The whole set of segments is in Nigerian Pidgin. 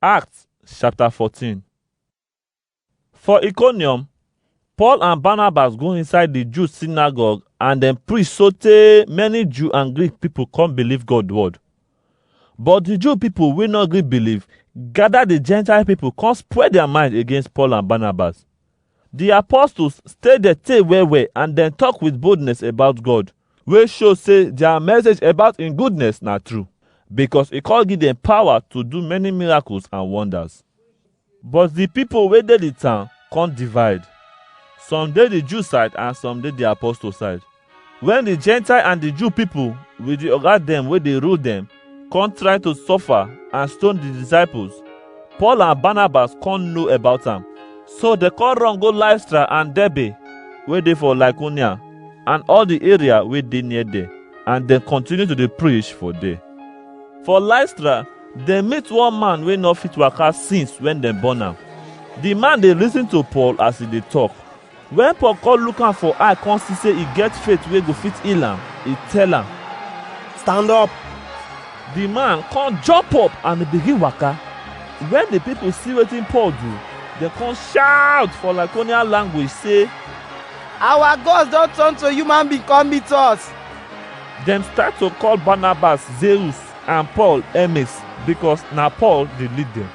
Acts chapter 14 For Iconium, Paul and Barnabas go inside the Jew synagogue and dem preach sotey many Jew and Greek people come believe God word. But the Jew people wey no gree believe gather the Gentile people come spread their mind against Paul and Barnabas. Di apostles stay there tey well well and dem talk with boldness about God, wey show say their message about im goodness na true, because e come give dem power to do many miracles and wonders. But di people wey dey di town come divide. Some dey di Jew side and some dey di apostle side. When the Gentile and the Jew people with the oga dem wey dey rule dem come try to suffer and stone the disciples, Paul and Barnabas come know about am. So they come run go Lystra and Derbe wey dey for Lycaonia and all the area wey dey near there and dem continue to dey preach for there. For Lystra, dem meet one man wey no fit waka since when dem born am. The man dey listen to Paul as he dey talk Wen Paul come look am for eye come see sey e get faith wey go fit heal am, e tell am, Stand up! Di man come jump up and e begin waka. Wen di pipu see wetin Paul do, dem come shaut for Lycaonian language sey, Our gods don turn to human being come meet us! Dem start to call Barnabas Zeus and Paul Hermes, bikos na Paul dey lead dem.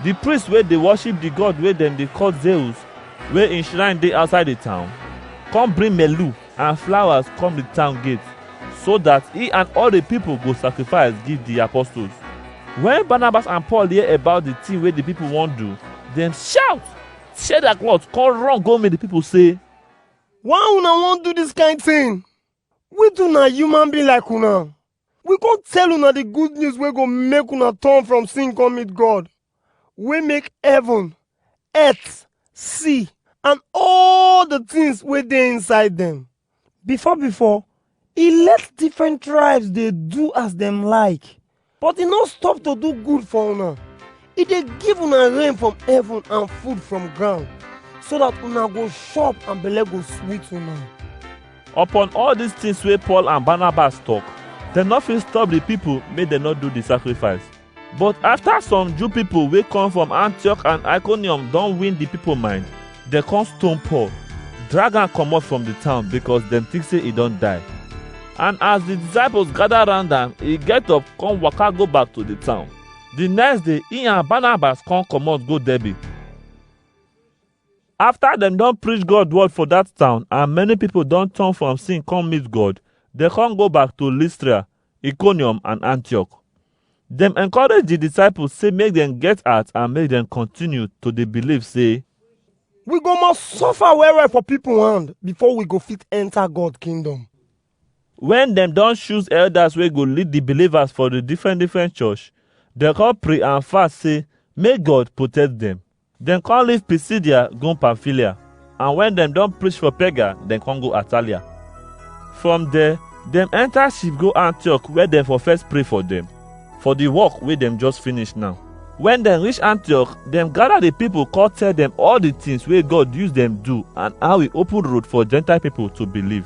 Di priests wey dey worship di god wey dem dey call Zeus, wey im shrine dey outside di town, come bring melu and flowers come di town gate, so dat e and all di pipo go sacrifice give di apostles. Wen Barnabas and Paul hear about di tin wey di pipo wan do, dem shout, tear dia cloth, come run go meet di pipo sey, Why una wan do dis kain tin? We too na human being like una. We come tell una the good news wey go make una turn from sin come meet God, wey make heaven, earth, sea, and all the things wey dey inside them. Before before, e let different tribes dey do as dem like, but e no stop to do good for una. e dey give una rain from heaven and food from ground so that una go chop and belle go sweet una. Upon all these things wey Paul and Barnabas talk, dem no fit stop the people make dem no do the sacrifice. But after some Jew people wey come from Antioch and Iconium don win the people mind, dem come stone Paul, drag am comot from the town because dem think say e don die. And as the disciples gather round am, e get up come waka go back to the town. The next day, he and Barnabas come comot go Derbe. After dem don preach God word for that town and many people don turn from sin come meet God, dem come go back to Lystra, Iconium and Antioch. Dem encourage the disciples say make dem get heart and make dem continue to dey believe say We go must suffer well well for people hand before we go fit enter God kingdom. Wen dem don choose elders wey go lead di believers for di different different church, dem come pray and fast say make God protect dem. Dem come leave Pisidia go Pamphylia, and wen dem don preach for Perga, dem come go Atalia. From there, dem enter ship go Antioch where dem for first pray for dem for di work wey dem just finish now. Wen dem reach Antioch, dem gather di people come tell dem all di things wey God use dem do and how e open road for Gentile people to believe.